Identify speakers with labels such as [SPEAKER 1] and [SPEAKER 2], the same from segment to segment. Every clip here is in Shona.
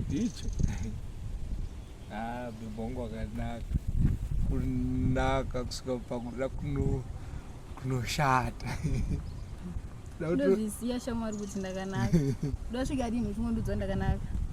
[SPEAKER 1] ndicho ah, bibongo akanaka kunaka kusvika pakuda kunoshata ndozvisiya
[SPEAKER 2] shamwari kuti ndakanaka ndosvika rinhu chimwe ndudzo ndakanaka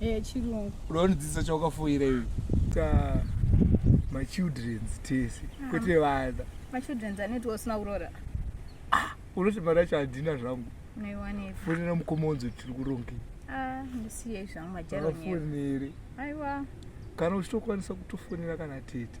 [SPEAKER 1] Eh, chirungu.
[SPEAKER 2] Unonidzidzisa
[SPEAKER 1] chawakafoira iwe. Ta my children's tese. Ah. Kwete vana. My children's anoti
[SPEAKER 2] usina kurora. Ah,
[SPEAKER 1] unoti mari yacho handina zvangu. Naiwanepi. Fonera
[SPEAKER 2] mukoma unzwe
[SPEAKER 1] tiri kuronge. Ah, ndisiyei
[SPEAKER 2] zvangu majaro nyere. Aiwa.
[SPEAKER 1] Kana uchitokwanisa kutofonera kana tete.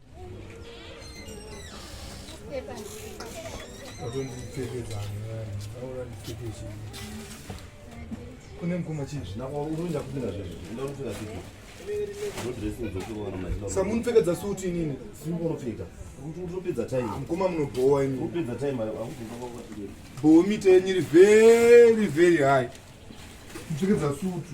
[SPEAKER 1] kune mukoma chii zvinakuenda kupinda zvezvo enda unopfeka sipo ndodressing dzokuona mazina samunopfekedza suti inini sipo unopfeka
[SPEAKER 3] utopedza time mukoma munobhowa ini
[SPEAKER 1] utopedza time
[SPEAKER 3] bhowa
[SPEAKER 1] mita yenyu iri very very high mupfekedza sutu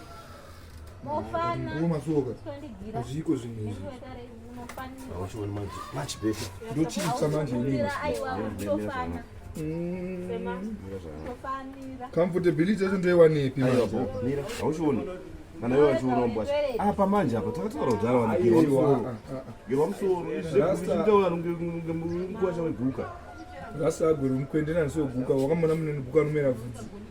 [SPEAKER 1] zviiko zvinhu izvi
[SPEAKER 3] ndochiisa manje
[SPEAKER 1] comfortability yacho ndoiwanepi hauchioni
[SPEAKER 3] kana iwe vachiurombwa apa manje apa takataura kudhara wanigirwa musoro zvekunge mukwasha weguka rasa agwere
[SPEAKER 1] mukwende nanisoguka wakamona muneniguka anomera vhudzi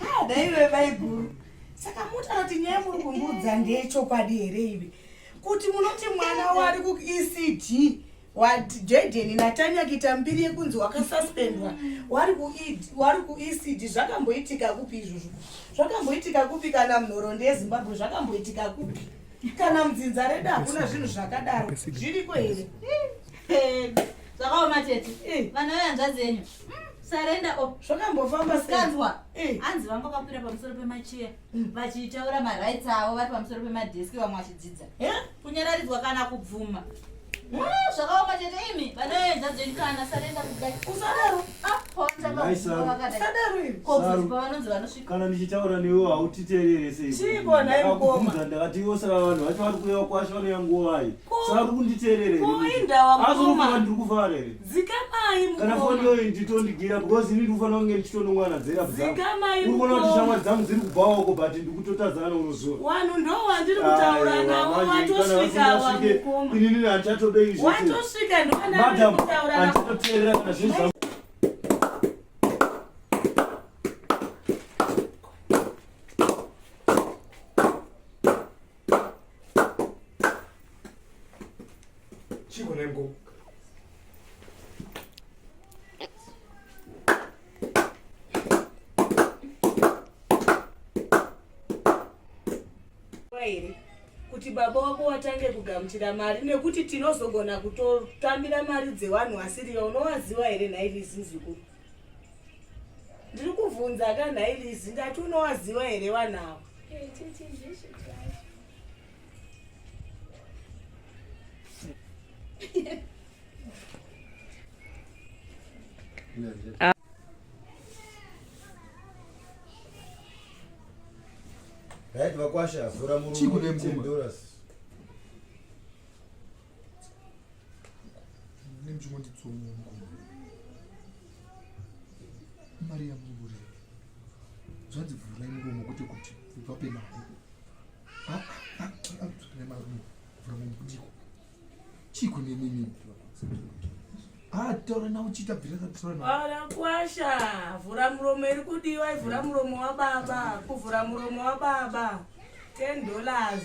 [SPEAKER 4] Ah, daiwe vaiguru saka mutaura kuti nyaya muri kumbuudza ndeyechokwadi here ive kuti munoti mwana wari kuecd wajaden natanya kuita mbiri yekunzi wakasuspendwa wari kuecd e zvakamboitika kupi izvozvo zvakamboitika kupi kana munhorondo yezimbabwe zvakamboitika kupi kana mudzinza redu hakuna zvinhu zvakadaro zviriko here zvakaoma
[SPEAKER 5] tete eh. vana vehanzvadzi yenyu hmm, sarenda o oh. zvakambofamba
[SPEAKER 4] sikanzwa eh.
[SPEAKER 5] hanzi vanga vakakwira pamusoro pemacheya hmm. vachitaura marights avo vari pamusoro pemadheski vamwe vachidzidza eh? kunyararidzwa kana kubvuma hmm, zvakaoma tete imi vana vehanzvadzi yenyu kana sarenda kudai usadaro ah,
[SPEAKER 4] apo vanzakausadaro
[SPEAKER 5] ivi kokuzipa vanonzi vanosvika kana ndichitaura newe
[SPEAKER 3] hautiterere seikubvunza
[SPEAKER 4] ndakati ivo saka vanhu
[SPEAKER 3] vacho vari kureva kwasha vanoya nguvai saka uri kunditerere azokuva
[SPEAKER 4] ndiri kuvara here
[SPEAKER 3] kana
[SPEAKER 4] foni yoyi nditondigira
[SPEAKER 3] because ini ndikufanira kunge ndichitonongwana dzera bzauri kuona kuti
[SPEAKER 4] shamwa dzangu
[SPEAKER 3] dziri kubhawako but ndikutotadzana neunozuva
[SPEAKER 4] inini handichatobei
[SPEAKER 3] zvmadam handitoterera
[SPEAKER 4] kana zvinhu zvangu baba wako watange kugamuchira mari nekuti tinozogona kutotambira mari dzevanhu vasiriva unowaziva here nhairi zizukuru ndiri kuvhunza ka nhailizi ndati unowaziva here vanavo
[SPEAKER 6] ah. right vakwasha vhura murume
[SPEAKER 1] mari yamuvuri zvanzi vhurai muromo kwete kuti vape mari vhurai marumo vhura mubudiko chiko nemimi ah, taura nawo chiita bviraakwasha
[SPEAKER 4] vhura muromo iri kudiwa ivhura muromo wababa kuvhura muromo wababa ten dollars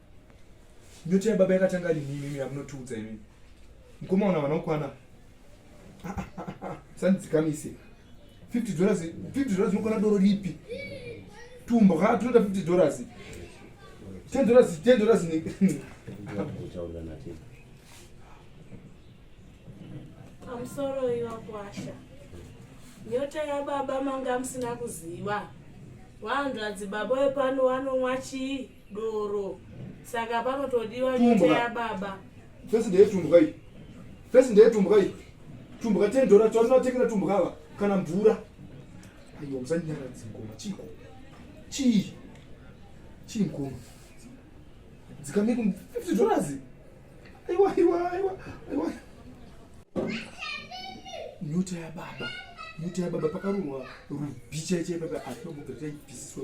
[SPEAKER 1] Nyota yababa yakatanga rini imimi yamunotiudza imimi. Mkoma una vanokwana. Sandzikamise. 50 dollars, 50 dollars unokwana doro ripi? Tumbo ha tunoda 50 dollars. 10 dollars, 10 dollars ni. I'm sorry you are kwasha.
[SPEAKER 4] Nyota ya baba manga msina kuziwa. Wandu adzibaba wepano wanomwa chii? doro saka panotodiwa nyota yababa fesi ndeyetumbwa
[SPEAKER 1] iyi fesi ndeyetumbwa iyi tumbwa ten dora tinoatengera tumbwa ava kana mvura aiwa musanyaradzi ngoma chiiko chii chii mkoma dzikamiko fifty dollars aiwa aiwa aiwa aiwa nyota yababa nyota yababa pakarurwa rubhicha chaipa pa atomobvira taibvisiswa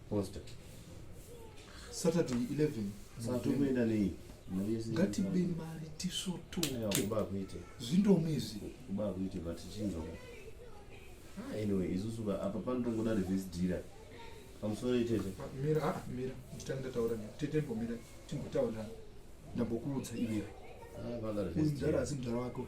[SPEAKER 1] Poster. Saturday 11. Satokuenda
[SPEAKER 3] nei? Ngatibe
[SPEAKER 1] mari tisotoke. Kuba kuite.
[SPEAKER 3] Zvindomi izvi.
[SPEAKER 1] Kuba kuite
[SPEAKER 3] but chinzwa. Ah, anyway, isusu apa panotongoda reverse dhira. Pamusoro itete. Mira, ah, mira.
[SPEAKER 1] Nditange ndataura ne. Tete mbomira. Timbotaura. Ndambokuudza iwe. Ah, vanga reverse.
[SPEAKER 3] Ndara asi mdara wako.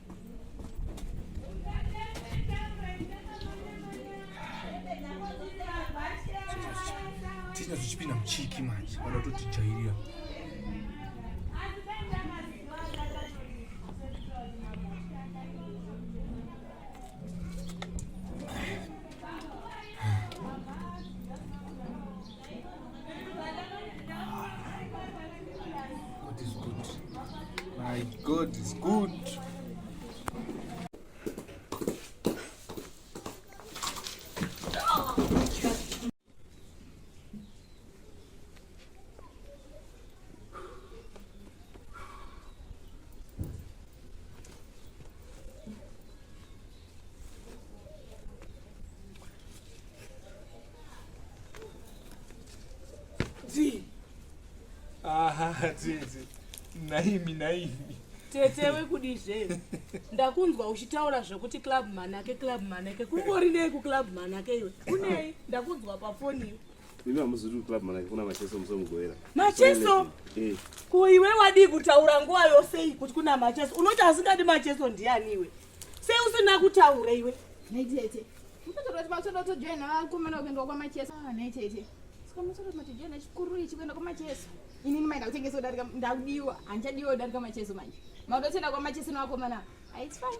[SPEAKER 1] Tina zvichipinda muchiki manje vanototijairira My God is good. Dzi. Aha, dzi dzi. Naimi naimi. Tete
[SPEAKER 7] wekudi zve. Ndakunzwa uchitaura zvekuti club manake club manake. Kungori nei ku club manake iwe? Kunei? Ndakunzwa pa phone iwe. Mimi hamuzuri ku
[SPEAKER 3] club manake kuna macheso musomugoera. Macheso?
[SPEAKER 7] Eh. Ko iwe wadii kutaura nguva yose kuti kuna macheso? Unoti asingadi macheso ndiani iwe? Sei usina kutaura iwe? Nhai
[SPEAKER 2] tete. Mtoto masoda kutojoina vakomana kuenda kwamachesa. Ah, nhai tete. Saka masoda matojoina chikuru ichi kuenda kwamachesa. Inini maida kutengesa kudarika ndakudiwa. Handichadiwa kudarika macheso manje. Mauda kutoenda kwamachesa nevakomana. Ah, it's fine.